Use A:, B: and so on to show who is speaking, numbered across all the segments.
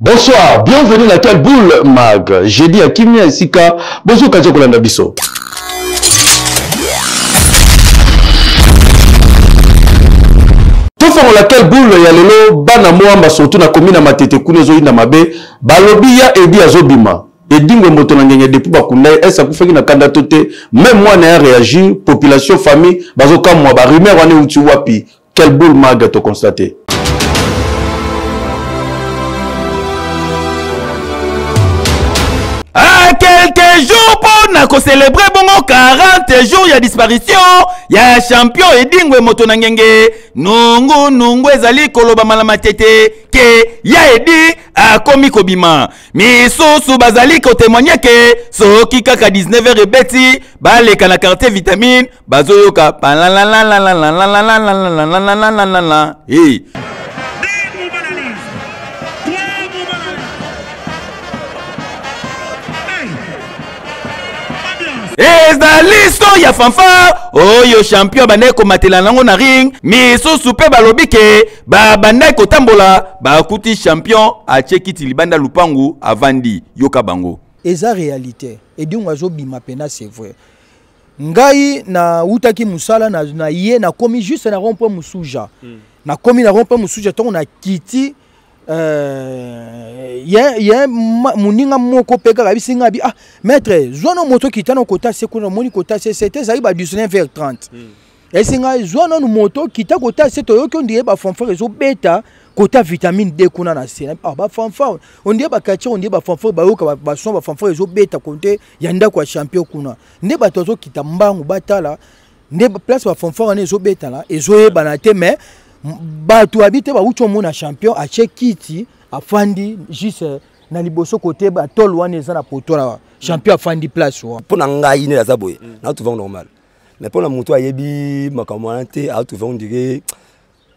A: Bonsoir, bienvenue na quel boule mag. J'ai dit à Kimia esika bozo kaje kolanda biso. tofongola quel boule ya lelo bana moamba surtout na komi na matete kuna ezoyinda mabe balobi ya edi azobima edingwe moto na ngenge depuis bakunda ye ese akufaki na kanda to te meme mwana ya réagir population famille bazokamwa barumeur wana euti wapi Quel boule maga to constater.
B: Ah, quelques jours mpo na kocelebre bongo 40 jours ya disparition ya champion edingwe moto na ngenge nungu nungu ezali kolobama na matete ke ya edi akomi kobima misusu bazali kotemoigne ke soki kaka 19 heures ebeti baleka na quartier vitamine bazoyoka hey. ezali son ya fanfare oyo champion abandaki komatela nango na ring misusu mpe balobi ke babandaki kotambola bakuti champion atie kiti libanda lupangu avandi yoka bango eza réalité
C: edingo azobima mpena c'est vrai ngai nawutaki mosala na, na ye nakomi juste na rond point mosuja mm. nakomi na rond point mosuja ntongo nakiti euh, ye, ye moninga moko mpe kaka yebisi ngai abi ah maître zwa no moto kita na kota se kuna omoni kota se sete ezali ba 19 vers 30 mm. yebisi ngai zwa nanu moto kita kota se toyoki ondire bafanfare ezobeta kota vitamine d kuna na se ah, bafanfare ondire baquartier ondire bafanfare bayoka bason bafanfare ezobeta konte ya ndako ya champion kuna nde bato azokita mbangu batala nde place bafonfort wana ezobetana ezoyebana te mais bato yabi te bawuti omona champion atie kiti afandi juste eh, na liboso kote batole wana eza na poto na champion afandi place wana mpo na ngai nde aza boye mm. na trouve normal mais mpo na moto ayebi makambo wana te a trouve ondire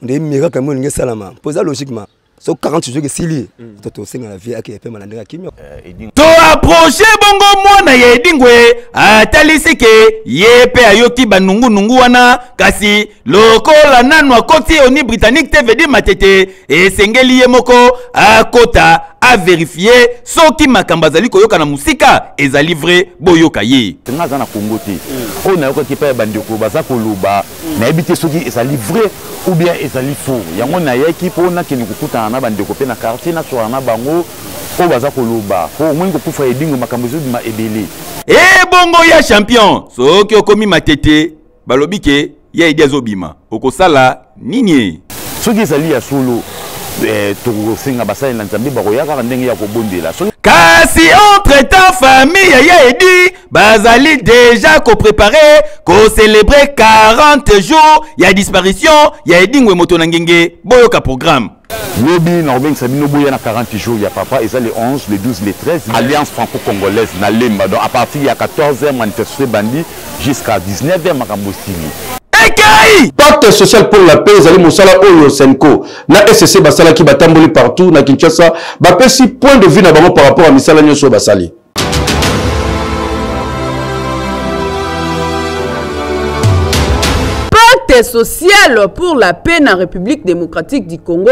C: ndenge miracle yango elingi esalama mpo eza logiquement so 40 jours esili mm. to tosenga na vie ake epema na ndenge ya kimia eh, to
B: approche bongo mwana ya edingwe atalisi ke ye mpe ayoki banungunungu wana kasi lokola nanu akoti oni britannique te vedi matete esengeli ye moko akota averifie soki makambo azali koyoka na mosika ezali vrai boyoka ye nga aza na kongo te
D: mm. oyo nayokaki epai ya bandeko baza koloba nayebi te soki ezali vrai ou bien ezali faux yango nayaki mpo nakende kokutana na bandeko mpe na quartier naswana na bango oyo baza koloba mpo omoni kokufa edingo makambo ezobima ebele ebongo
B: ya champion soki okomi matete balobi ke ya edi azobima okosala nini soki ezali ya
D: solo eh, tokosenga basali na nzambe bakoya kaka ndenge ya kobondela kasi
B: entre temps famille ya edi bazali deja koprepare kocelebre 40 jours ya disparition ya edingwe moto na ngenge boyoka programme lobi
D: nakobengisa bino boya na 40 jours ya papa eza le 11 le 12 le 13 alliance franco-congolaise na lemba donc à partir ya 14 heure manifestation ebandi jusqu'à 19 heure makambo esili ekei
A: pacte social pour la paix ezali mosala oyo senco na sc basalaki batamboli partout na kinshasa bapesi point de vue na bango par rapport ya misala nyonso oyo basali
E: pacte social pour la paix na république démocratique du congo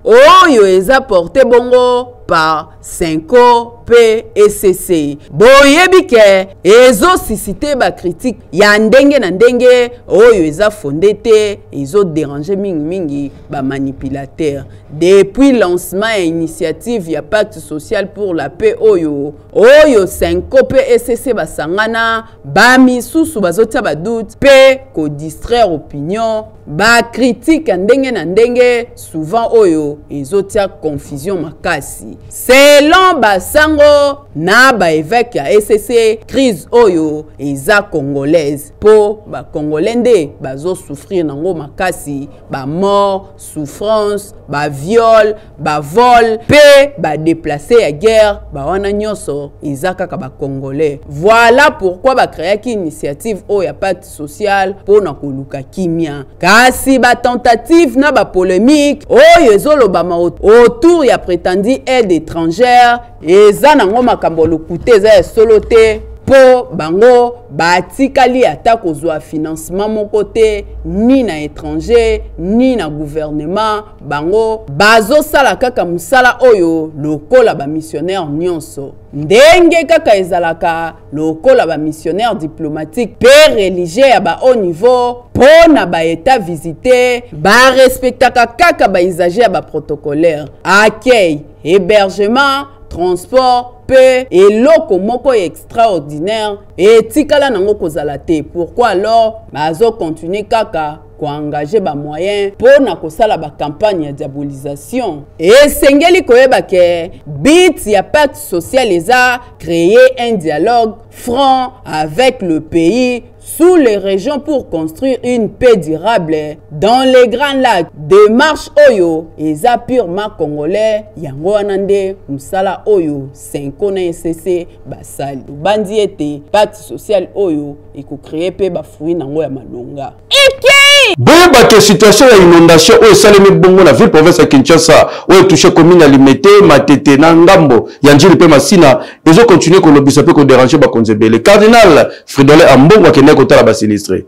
E: oyo eza porte bongo par senco mpe ecc boyebi ke ezosusite bakritike ya ndenge na ndenge oyo eza fonde te ezoderange mingimingi ba manipulateur depuis lancement ya initiative ya pacte social pour la paix oyo oyo senko mpe esese basangana bamisusu bazotia badoute mpe kodistraire opinion bakritike ya ndenge na ndenge souvent oyo ezotia confusion makasi selon basango na baeveke ya esese crise oyo eza congolaise mpo bacongolais nde bazosouffrir nango makasi ba mort souffrance ba viol ba vol pe ba déplacer ya guerre ba wana nyoso eza kaka ba congolais voilà pourquoi ba créaki initiative oyo ya pacte social pona koluka kimia kasi ba tentative na ba polemique oyo ezolobama autour ya prétendue aide étrangère eza nango makambo ya lokuta eza ya solo te mpo bango batikali ata kozwa financement moko te ni na étranger ni na gouvernement bango bazosala kaka mosala oyo lokola bamissionnaire nyonso ndenge kaka ezalaka lokola bamissionnaire diplomatique mpe religieux ya bahaut niveau mpo na baeta visite barespektaka kaka baisage ya baprotocolaire accueil hébergement transport mpe eloko moko ya extraordinaire etikala nango kozala te pourquoi alors bazokontinue kaka koengage bamoyen mpo na kosala bakampagne ya diabolisation esengeli koyeba ke bit ya pacte social eza créer un dialogue franc avec le pays sous les régions pour construire une paix durable dans les grands lacs démarche oyo eza purement congolais yango wana nde mosala oyo senko na esese basali obandi ete pacte social oyo ekocreye mpe bafruit nango ya malonga Ike!
A: boyeba ke situation ya inondation oyo esalemi bongo na ville province ya kinshasa oyo etouche commune ya limete matete na ngambo ya njili mpe masina ezo continuer kolobisa mpe koderange bakonzi ebele cardinal fridolin ambongo akendaki kotala basinistre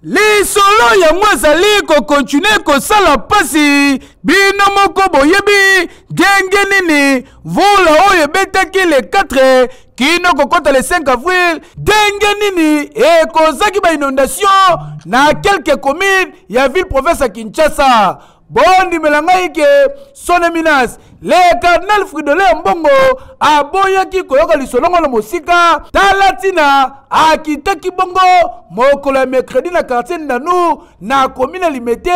C: lisolo yango azali kokontinue kosala mpasi bino moko boyebi ndenge nini mvula oyo ebetaki le 4 kino kokota le 5 avril ndenge nini ekozaki bainondation na kelke commune ya ville province ya kinshasa bondimela ngai ke sone minas le cardinal fridole ya mbongo aboyaki koyoka lisolongo na mosika tala ntina akitaki bongo mokolo ya mercredi na quartier ndanu na komi na limete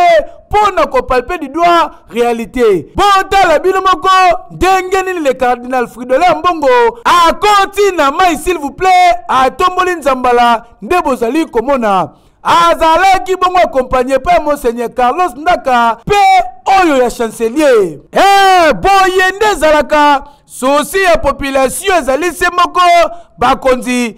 C: mpo na kopalpe du doigt réalité botala bino moko ndenge nini le cardinal fridola mbongo akoti na mai s'il vous plaît atomboli nzambala nde bozali komona azalaki bongo akompanye mpe monseigneur carlos ndaka mpe oyo ya chancelier e eh, boye nde ezalaka sosi ya population ezali se moko bakonzi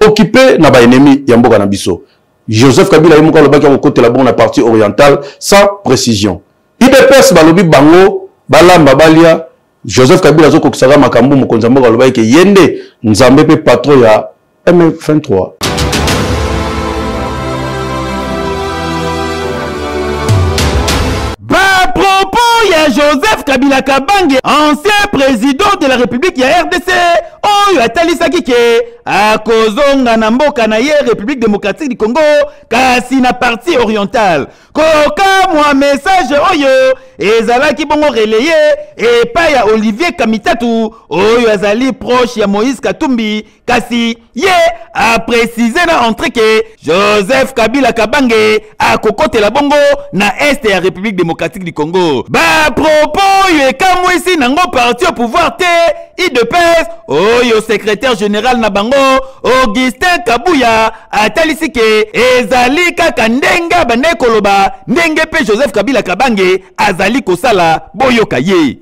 A: occupe na ba ennemis ya mboka na biso Joseph Kabila ye moko alobaki akokotela bongo na partie orientale sans précision idps balobi bango balamba balia joseph kabila azokokisaka makambo mokonzi ya mboka alobaki ke ye nde nzambe mpe patron ya m23
B: bapropos ya joseph kabila kabange ancien président de la république ya rdc oyo atalisaki ke akozonga na mboka na ye république démocratique du congo kasi na partie orientale kokamwa message oyo ezalaki bongo relaye epai ya olivier kamitatu oyo azali proche ya moïse katumbi kasi ye aprécise na entrée ke joseph kabila kabange akokotela bongo na este ya république démocratique du congo bapropo oyo ekamwisi nango parti au pouvoir te idps oyo secrétaire général na bango augustin kabuya atalisi ke ezali kaka ndenge abandaki koloba ndenge mpe joseph kabila kabange azali kosala boyoka ye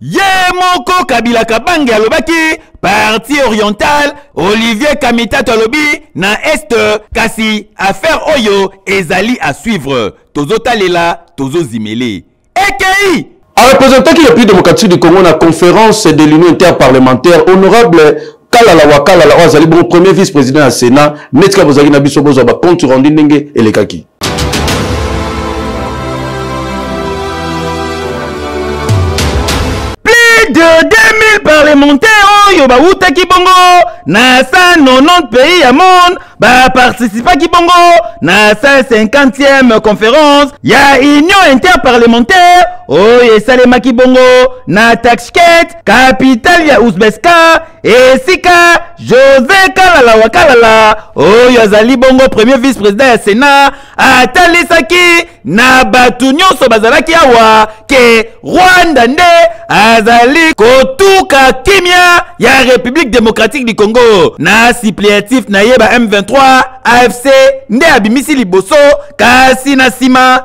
F: ye moko
B: kabila kabange alobaki parti oriental olivier kamitato alobi na est kasi affaire oyo ezali à suivre tozotalela tozozimele ekei arepresentaki
A: le plus démocratique du congo na conférence de l'union interparlementaire honorable kalala wa kalala oyo azali bongo premier vice président ya sénat neti kaka bozalaki na biso bozwa bacompte rendu ndenge elekaki
B: plus de 2000 parlementaires oyo bawutaki bongo na 190 pays ya monde baparticipaki bongo na 150e conférence ya union interparlementaire oyo esalemaki bongo na taxket kapitale ya uzbestan esika jose kalala wa kalala oyo azali bongo premier vice president ya senat atalisaki na bato nyonso bazalaki awa ke rwanda nde azali kotuka kimia ya république démocratique du congo na suppléatif na ye ba m23 afc nde abimisi liboso kasi na nsima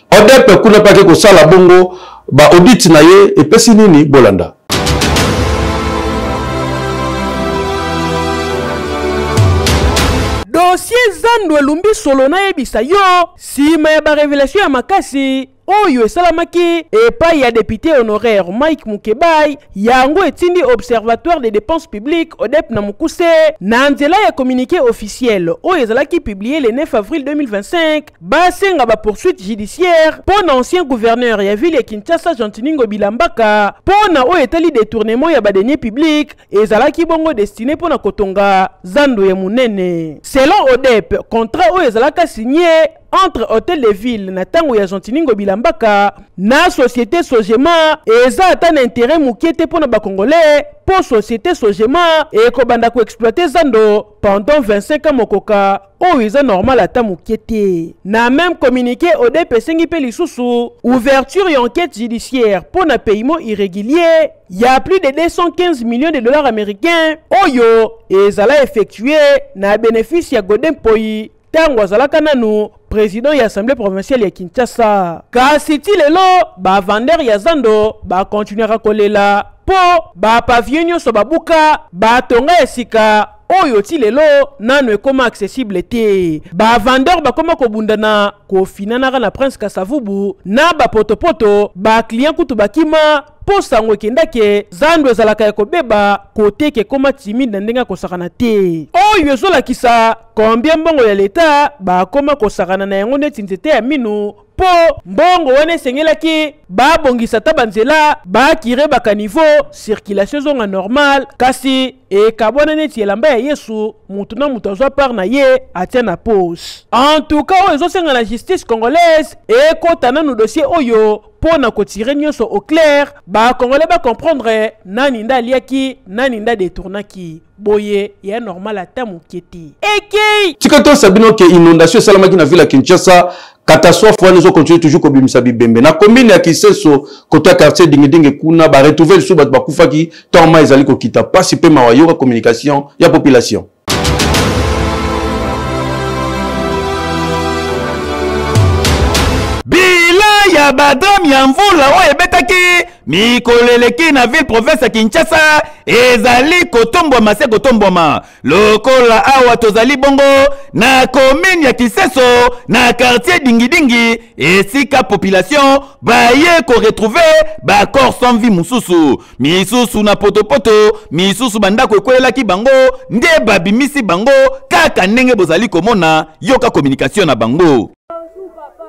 A: odepe kuna mpe ake kosala bongo baodite na ye epesi nini bolanda
G: dosie zando elumbi solo nayebisa yo nsima ya barevelatio ya makasi oyo esalamaki epai ya depute honoraire mike mukebai yango etindi observatoire des dépenses publiques odep na mokuse na nzela ya communiqué officiel oyo ezalaki publie le 9 avril 2025 basenga ba poursuite judiciaire mpo na ancien gouverneur ya ville ya kinshasa gentiningo bilambaka mpo na oyo etali detournement ya badenie public ezalaki bongo destine mpo na kotonga zando ya monene selon odep contrat oyo ezalaka signe entre hotel de ville na ntango ya gentiningo bilambaka na société sogema eza ata na intérêt moke te mpo na bacongolais mpo société sogema ekobanda koexploite zando pendant 25 ans mokoka oyo eza normal ata moke te na meme communiqué odep esengi mpe lisusu ouverture ya enquête judiciaire mpo na paiement irrégulier ya plus de 215 millions de dollars américains oyo ezala effectue na bénéfice ya gode mpoi ntango azalaka nanu président ya assemblée provinciale ya kinshasa kasi ti lelo bavandeur ya zando bakontinuaka kolela mpo bapavio nyonso babuka batonga ya sika oyo ti lelo nano ekoma accessible te ba vendeur bakoma kobunda na kofinanaka na prince kasavubu na bapotopoto baclient kutu bakima mpo sango ekendake zando ezalaka ya kobeba koteke ekoma timide na ndenge ya kosakana te oyo ezolakisa kombie mbongo ya leta bakoma kosakana na yango neti nzete ya minu mpo mbongo wana esengelaki babongisa ata banzela bakire bakanivo circulation ezonga normal kasi ekabwana neti elamba ya yesu moto na moto azwa part na ye atya na pose antuka oyo ezosenga na justice congolaise ekota nanu dossier oyo mpo na kotire nyonso au clair bacongolais bacomprendre nani nde aliaki nani nde adetournaki boye ya normal ata moke te ekei tika toyesa bino ke
A: inondation esalamaki na ville ya kinshasa catastrophe wana ezokontinue toujours kobimisa bibembe na commune ya kiseso koto ya quartier dingidingi kuna baretrouve lisusu bato bakufaki ntango mai ezali kokita mpasi mpe mawa yoka communication ya population
B: bilan ya badame ya mvula oyo ebetaki mikolo eleki na ville province ya kinshasa ezali kotombwama se kotombwama lokola awa tozali bongo na komine ya kiseso na quartier dingidingi esika population baye koretrouve bacor sans vie mosusu misusu na potopoto misusu bandako ekwelelaki bango nde babimisi bango kaka ndenge bozali komona yoka communication na bango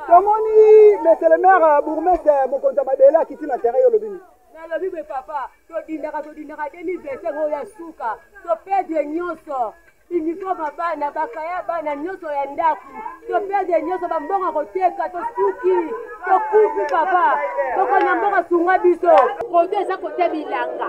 B: tomoni
H: monsieur le maire bourgmestre mokonzi ya mabele akiti na terrain yo olobi nini nalobi boye papa
I: todindaka todindaka 2025 oyo ya suka topedre nyonso uniforme bana bakaya bana nyonso ya ndako topedre nyonso bambongo ya koteka tosuki tokufi papa moko na mboka sunga biso koto eza kote bilanga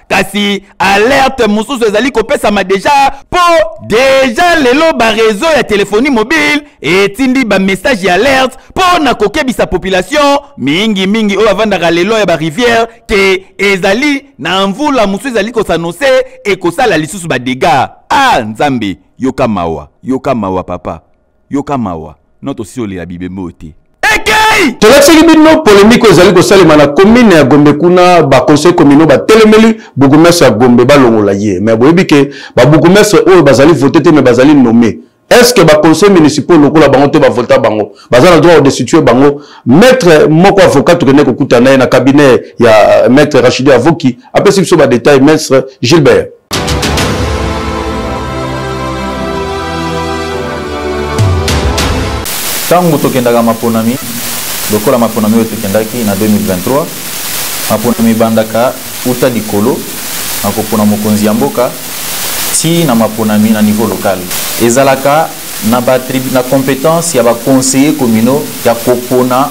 B: kasi alerte mosusu ezali kopesama deja mpo deja lelo barezo ya telefoni mobile etindi bamessage ya alerte mpo na kokebisa population mingimingi oyo avandaka lelo ya barivière ke ezali na mvula mosusu ezali kosanose ekosala lisusu badega a ah, nzambe yoka mawa yoka mawa papa yoka mawa no tosi olela bibembe oyo te ekei tolakisaki bino
A: polemike oyo ezali kosalema na komine ya gombe kuna baconseil communaux batelemeli bourgmestre ya gombe balongola ye mai boyebi ke babourgmestre oyo bazali vote te mai bazali nomme est ce que baconseil municipaux lokola bango te bavota bango baza na droit odestitue bango maître moko avocat tokende kokutana ye na cabinet ya euh, maître rachide avoki apesi biso badetail maître gilbert
J: ntango tokendaka maponami lokola maponami oyo tokendaki na 2023 maponami ebandaka uta likolo na kopona mokonzi ya mboka tii na maponami na niveau lokale ezalaka na, ba, na competence ya baconseiller communaux ya kopona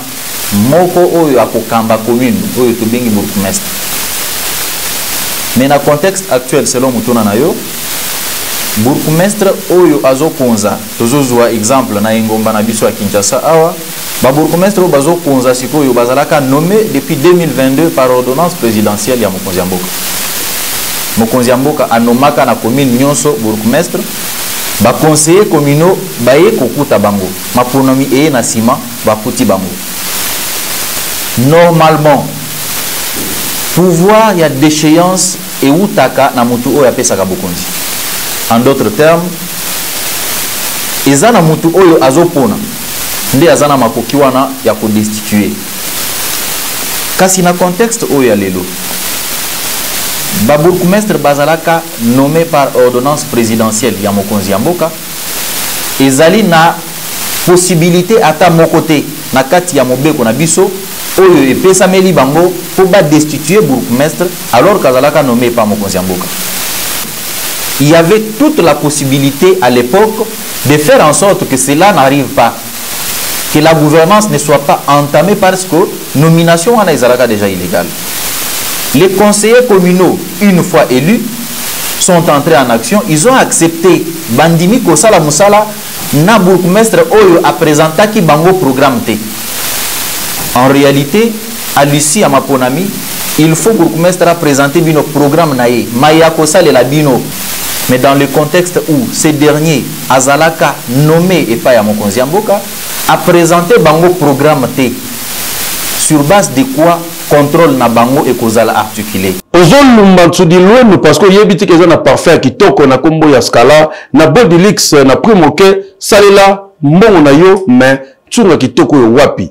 J: moko oyo akokamba commune oyo tobengi bourgmestre mais na contexte actuel selon motuna na yo bourgmestre oyo azokonza tozozwa exemple na engomba na biso ya kinshasa awa babourgmestre oyo bazokonza sikoyo bazalaka nommé depuis 2022 par ordonnance présidentielle ya mokonzi ya mboka mokonzi ya mboka anomaka na commune nyonso bourgmestre Ba conseillers communaux baye kokuta bango, maponomi eye na sima bakuti bango. Normalement, pouvoir ya decheance ewutaka na mutu oyo apesaka bokonzi. En d'autres termes, eza na mutu oyo azopona nde aza na makoki wana ya ko destituer. Kasi na contexte oyo ya lelo, ba bourgmestres bazalaka nomme par ordonnance presidentielle ya mokonzi ya mboka ezali na possibilité ata moko te na kati ya mobeko na biso oyo epesameli bango mpo ba destituer bourgmestre alors kazalaka nomme par mokonzi ya mboka il y avait toute la possibilité à l'époque de faire en sorte que cela n'arrive pas que la gouvernance ne soit pas entamée parce que nomination wana ezalaka déjà illégale. Les conseillers communaux, une fois élus, sont entrés en action, ils ont accepté bandimi kosala musala na bourgmestre oyo a présentaki bango programme T. En réalité, à l'issue à Maponami, il faut bourgmestre a présenter bino programme naï, mais il y a la bino. Mais dans le contexte où ces derniers azalaka nomme epai ya mokonzi ya mboka apresente bango programme te sur base de quoi contrôle na bango ekozala articule
A: ozolumba nsudilwenu parceke oyebi tika eza na parfum ya kitoko na nkombo ya scala na bodilix na prix moke salela mbongo na yo me nsunga kitoko oyo wapi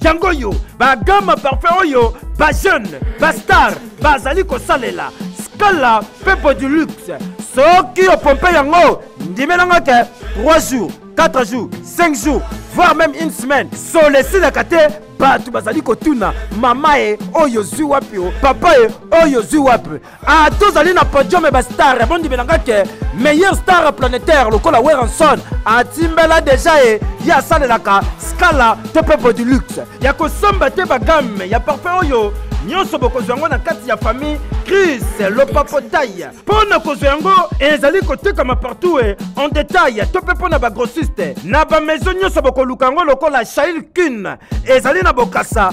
G: yango oyo bagama parfum oyo bajeune bastar bazali kosalela scala mpe bodulux soki opompe yango ndimelanga te 3 jours 4 jours 5 jours voire même une semaine solo esilaka te bato bazali kotuna mama ye oyo ozwi wapi o papa ye oyo ozwi wapi Ah, tozali na podium ya bastar ya bondimela nga ke meilleur star planétaire lokola weranson atimbela deja ye ye asalelaka scala to mpe bodilux ya kosomba te bagamme ya parfum oyo nyonso bokozwa yango na kati ya famille cris lopapotai mpo na kozwa yango ezali kotekama partout e en detail to mpe mpo na bagrossiste na bamaison nyonso bokoluka yango lokola shail kun ezali na bokasa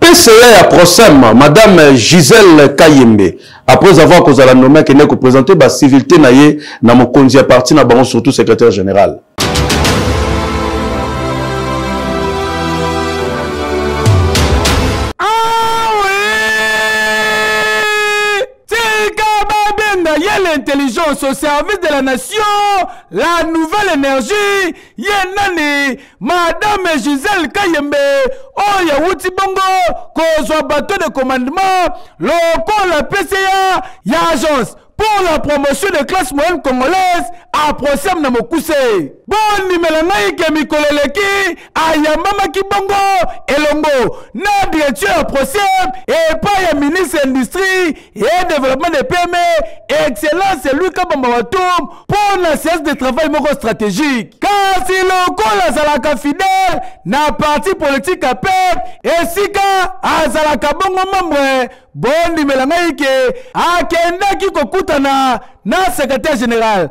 K: PCA
A: ya Procem, Madame Gisèle Kayembe, après avoir kozala nommé akende ko présenter ba civilité na ye na mokonzi ya parti na bango surtout secrétaire général.
G: intelligence au service de la nation, la nouvelle énergie, Yenani, Madame Gisèle Kayembe oyo awuti bongo kozwa bateau de commandement lokola PCA ya agence pour la promotion de classe moyenne congolaise aprosem na mokuse bondimela ngai ke mikolo eleki ayambamaki bongo elongo na direction ya aprosem epai ya ministre ya industrie et développement des PME, excellence lui Kabamba Watum pour la séance de travail moko stratégique. Kasi lokola azalaka fidèle na parti politique ya PEP esika azalaka bongo membre bondimela ngai ke akendaki kokutana na secrétaire général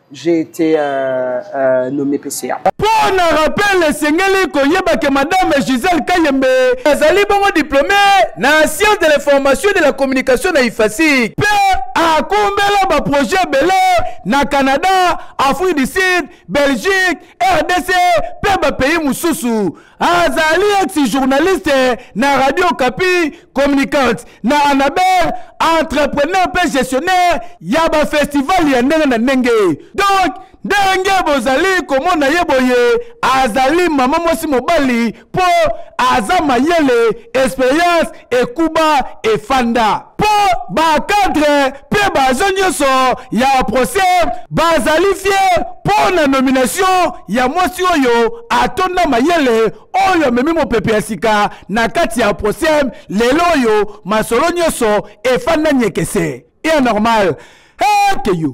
L: j'ai été euh, euh, nommé PCA. mpo na rappel
G: esengeli koyeba ke madame gisele kayembe azali bongo diplôme na science de l'information de la communication na ifasic mpe akumbela baprojet ebele na canada afrique du sud belgique rdc mpe bapays mosusu azali ex journaliste na radio kapi communicante na anabel entrepreneur mpe gestionnaire ya bafestival ya ndenge na ndenge donc
B: ndenge bozali komona ye boye azali mama mwasi mobali mpo aza mayele experience ekuba efanda mpo bakadre mpe bazo nyonso ya procès bazali fie mpo na nomination ya mwasi oyo atonda mayele oyo amemi mopepe ya sika na kati ya procès lelo oyo masolo nyonso efanda nyekese e normal hekeyo hey,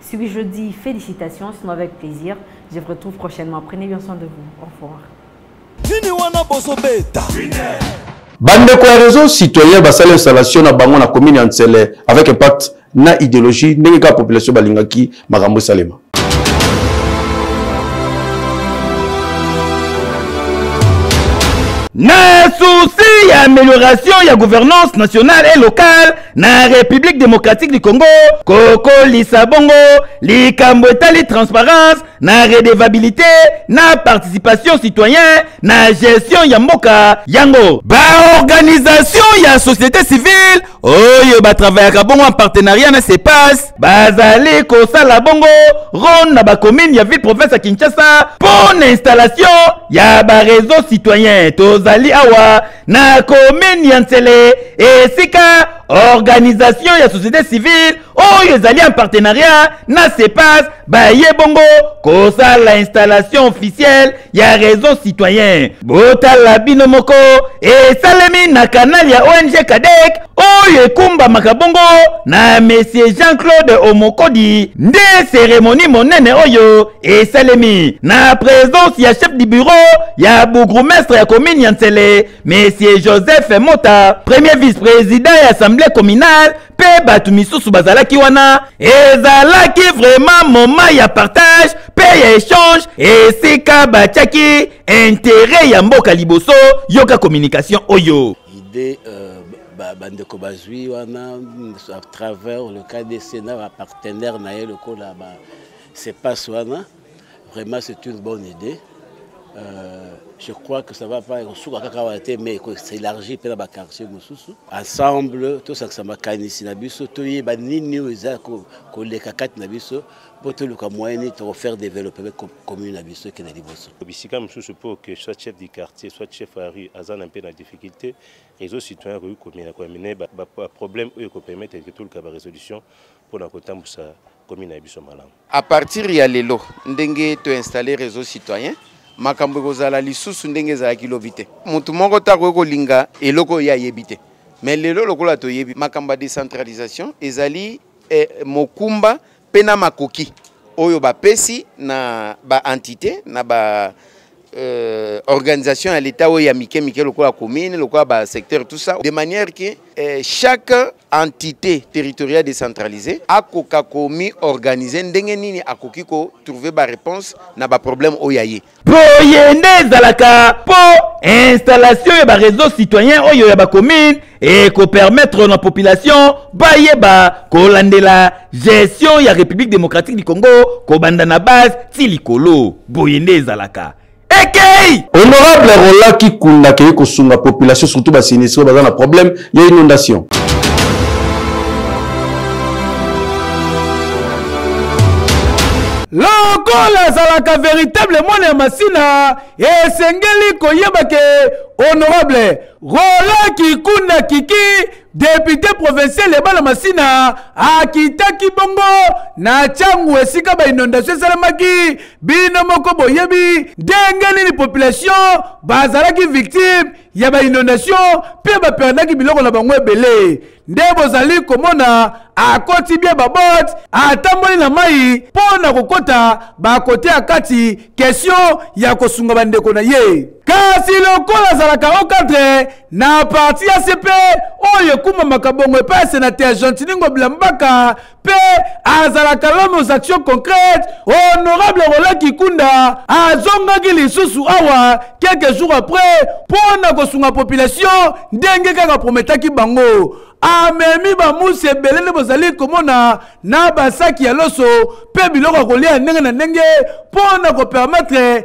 M: Si oui, je dis félicitations, sinon avec plaisir. Je vous retrouve prochainement. Prenez bien soin de vous. Au revoir.
A: bandeko ya réseau citoyen basali installation na bango na commune ya nsele avec impact na idéologie ndenge kaka population balingaki makambo esalema
B: na souci ya amélioration ya gouvernance nationale et locale na République démocratique du Congo kokolisa bongo likambo etali transparence na redevabilité na participation citoyen na gestion ya mboka yango baorganisation ya société civile oyo batravayaka bongo en partenariat na CEPAS bazali kosala bongo ronde na bacommune ya ville province ya Kinshasa mpo na installation ya bareseau citoyen tozali awa na komini ya nsele esika organisation ya société civile oyo ezali en partenariat na cepas baye bongo kosala installation officielle ya réseau citoyen botala bino moko esalemi na kanal ya ong kadek oyo ekumbamaka bongo na monsieur jean-claude omokodi nde seremoni monene oyo esalemi na presence ya chef du bureau ya bourgmestre ya commune ya nsele monsieur joseph mota premier vice-président ya assemblée communale mpe bato misusu bazalaki wana ezalaki vraiment moment ya partage mpe ya échange esika batiaki intérêt ya mboka liboso yoka communication oyo ide euh,
N: bandeko ba bazwi wana à travers le kdc na bapartenaire na ye lokola ba, ba C'est pas Swana. Vraiment, c'est une bonne idée. Euh, je crois que ça va pas kosuka kaka wana te mais s'élargir mpe na baquartier mosusu ensemble tosakisa makanisi na biso toyeba nini oyo eza koleka kati na biso mpo toluka moyen nini tokofaire développement commune na biso ekende liboso bisika mosusu mpo
O: que soit chef du quartier soit chef ya rue aza na mpe na difficulté réseau citoyen akoki komina koyamina baproblème oyo ekopermettre ke toluka barésolution mpo na kotambusa komi na biso malamu à partir ya
P: lelo ndenge to installer réseau citoyen makambo ekozala lisusu ndenge ezalaki lobi te motu moko te akoki kolinga eloko oyo ye ayebi te mais lelo lokola toyebi makambo ya décentralisation ezali eh, mokumba mpe na makoki oyo bapesi na baentité na ba euh, organisation ya l'État oyo ya mike mike lokola commune lokola ba secteur tout ça de manière que euh, chaque entité territoriale décentralisée akoka komi organiser ndenge nini akoki ko trouver ba réponse na ba problème oyo ya ye boye nde
B: ezalaka po installation ya ba réseau citoyen oyo ya ba commune ekopermettre na population bayeba kolandela gestion ya république démocratique du congo kobanda na base ti likolo boye nde ezalaka ekei honorable
A: rola kikunda akei kosunga population surtout basinistre baza na problème ya inondation
B: lokola azalaka véritable mwana ya masina esengeli koyeba ke honorable Roland Kikunda Kiki, depute provincial ya bana masina akitaki bongo na changu esika ba inondation esalamaki bino moko boyebi ndenge nini population bazalaki victime ya ba inondation mpe baperdaki biloko na bango ebele nde bozali komona akoti bie babot atamboli na mai mpo na kokota bakote ya kati kesio ya kosunga bandeko na ye kasi lokola azalaka o cadre na parti ya cp oyo ekumbamaka bongo epai ya senate ya gentini ngobila mbaka mpe azalaka l'homme aux actions concrètes honorable rola kikunda azongaki lisusu awa quelques jours après mpo na kosunga population ndenge kaka prometaki bango amemi bamusi ebele nde bozali komona na basaki ya loso mpe biloko ya kolia ya ndenge na ndenge mpo na kopermetre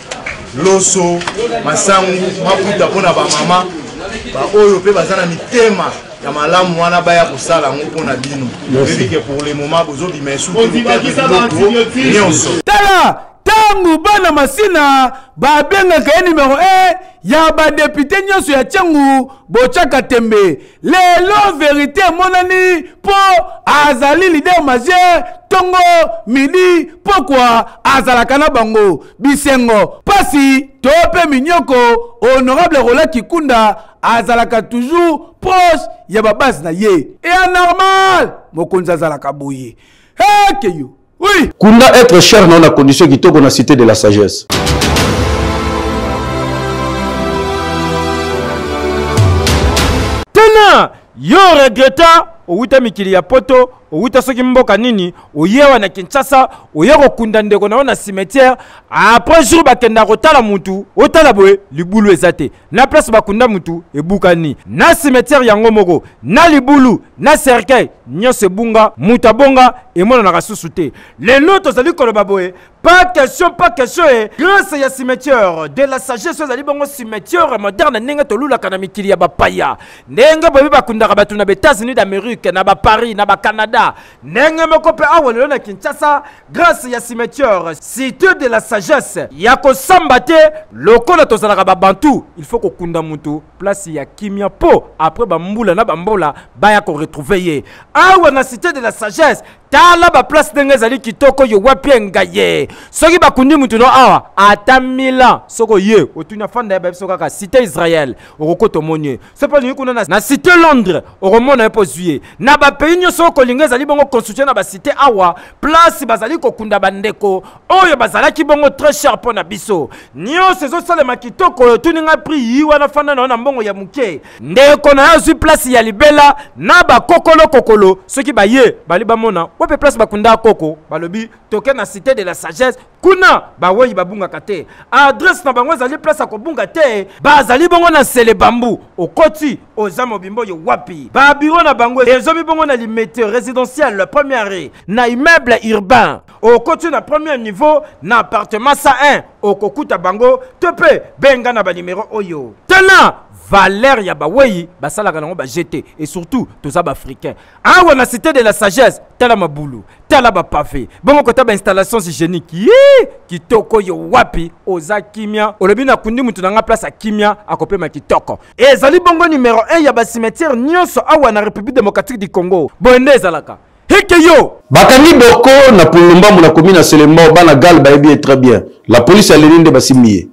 Q: loso masangu mafuta mpo na bamama baoyo mpe baza na mitema ya malamu wana baya kosala yango mpo na bino oyebike pour le moment bozobima esunyonso tala
B: ntango bana masina babengaka ye nimero e ya badepute nyonso ya ntango botyaka tembe lelo verite emonani mpo azali lider majeur ntongo midi mpokwa azalaka na bango bisengo pasi to mpe minyoko honorable rola kikunda azalaka toujours proche ya babase na ye ea normal mokonzi azalaka boye hekeyo oui kunda être cher
A: nao na condition kitoko na cité de la sagesse
R: tena yo regreta owuta mikili ya poto owuta soki mboka nini oye awa na kinshasa oye kokunda ndeko na yo na cimetière après jour bakenda kotala mutu otala boye libulu eza te na place bakunda mutu ebukani na cimetière yango moko na libulu na cercueil nyonso ebunga mutu abonga emonanaka susu te lelo tozali koloba boye Pas question, pas question. Eh. Grâce à cimetière, de la sagesse, vous allez bon cimetière moderne, n'enga tolula kana mikili ya bapaya. N'enga bobi bakundaka batu na États-Unis d'Amérique, na ba Paris, na ba Canada. N'enga moko pe awa lelo na Kinshasa, grâce à cimetière, cité de la sagesse. Ya ko samba te, lokola tozalaka ba bantu, il faut ko kunda mutu place ya kimia po après ba mbula na ba mbola ba ya ko retrouver ye. Awa na cité de la sagesse, tala ba place ndenge ezali kitoko yo wapi engaye soki bakundi motu no awa ata mila soko ye otuni afanda ya babiso kaka cité israel okokota omoni ye so mpe olingi kuna na cité londres okomona ye mpo ozwi ye na bapays nyonso okolinga ezali bongo constitue na bacité awa place bazali kokunda bandeko oyo bazalaki bongo très cher mpo na biso nyonso ezosalema kitoko oyo otuni ngai prix yi wana fanda na yo na mbongo ya moke ndeko na yo azwi place ya libela na bakokolo kokolo soki baye bali bamona wape place bakunda koko balobi toke na cité de la sagesse kuna bawei babungaka te adresse na bango ezali place ya kobunga te bazali bongo na nsele bambu okoti oza mobimba oyo wapi babiro na bango ezomi bongo na limete résidentiel première na immeuble urbain okoti na premier niveau na appartement 101 okokuta bango to mpe benga na banimero oyo tala valeur ya bawei basalaka nango bajete et surtout toza baafricain awa na cité de la sagesse tala mabulu tala bapave bongo kota bainstallations hygiénique ye kitoko yo wapi oza kimia olobi nakundi moto na ngai place ya kimia akopema kitoko ezali bongo numero 1 ya bacimetière nyonso awa na république démocratique du congo boye nde ezalaka heke yo bakangi boko
A: na pulumbamu na komi na selembao bana gal bayebi ye très bien la police aleli nde basimbi ye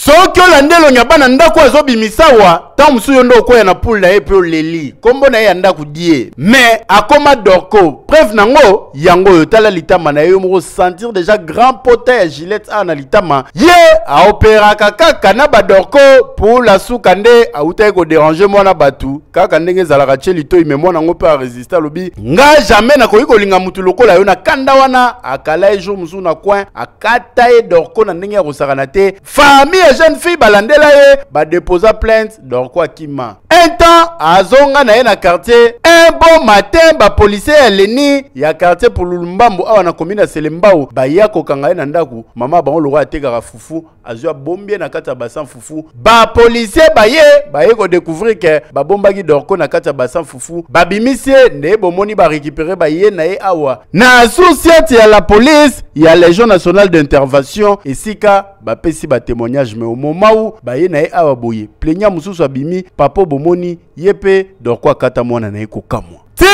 B: soki olanda elongi ya bana ndako azobimisa wa ntango
S: mosusu yo nde okwea na pule na ye mpe oleli nkombo na ye ya ndako die me akoma dorko preuve nango yango oyo tala litama na ye yo moko sentir deja grand pota ya gilette a na litama ye aoperaka kaka na badorko pula suka nde autaki koderange mwana bato kaka ndenge ezalaka tie litoi me mwana yango mpe aresiste alobi nga jamais nakoki kolinga motu lokola yo na kanda wana akala ye jour mosusu na coin akata ye dorko na ndenge ya kosakana te Famille ya jeune fille balandela ye ba déposa plainte donc quoi kima. Un temps azonga na ye na quartier un bon matin ba policier ya Leni ya quartier pour Lulumbambu awa na commune ya Selembao baya kokanga ye na ndaku mama bango lokola atekaka fufu azwa bombie na kati ya basan fufu ba policier baye baye ko découvrir que babombaki Dorco na kati ya basan fufu babimisi ye nde bomoni ba récupérer baye na ye awa na societe ya la police ya legion nationale d'intervention esika bapesi batémoignage mais omomau baye na ye awa boye plenia mosusu abimi papo bomoni ye mpe dorko akata mwana na ye kokamwa ti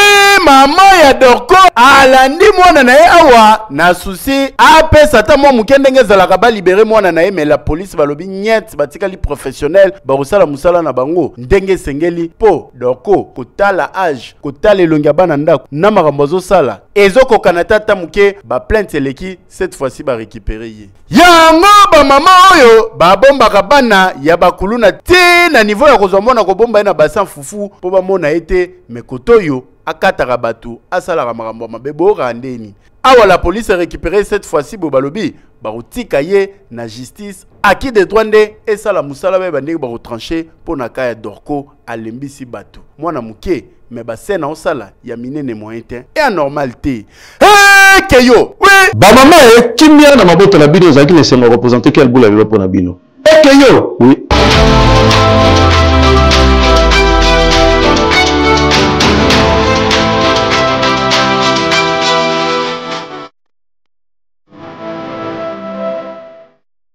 S: mama ya dorko alandi mwana na ye awa na susi apesa ata mwa moke ndenge ezalaka balibere mwana na ye me la polise balobi nyete batikali professionnel bakosala mosala na bango ndenge esengeli mpo dorko kotala age kotala elongi ya bana ndako na makambo azosala ezokokana te ata moke baplainte eleki cette fois-ci barekipere ye yango bamama oyo babombaka bana ya bakuluna te na nivo ya kozwa mwana kobomba ye na basan fufu mpo bamona ye te mekoto oyo akataka bato asalaka makambo ya mabe boyokaka ndeni awa la police erécupere cette fois-ci boye balobi bakotika ye na justice aki de droit nde esala mosala bayeba ndenge bakotranche mpo na ka ya dorco alembisi bato mwana moke me bascène aosala ya minene moyen te e anormal te eke yo bamama e
A: kimia na mabota na bino ezalaki na esengo ya represente kel bula lelo mpo na bino eke yo oui.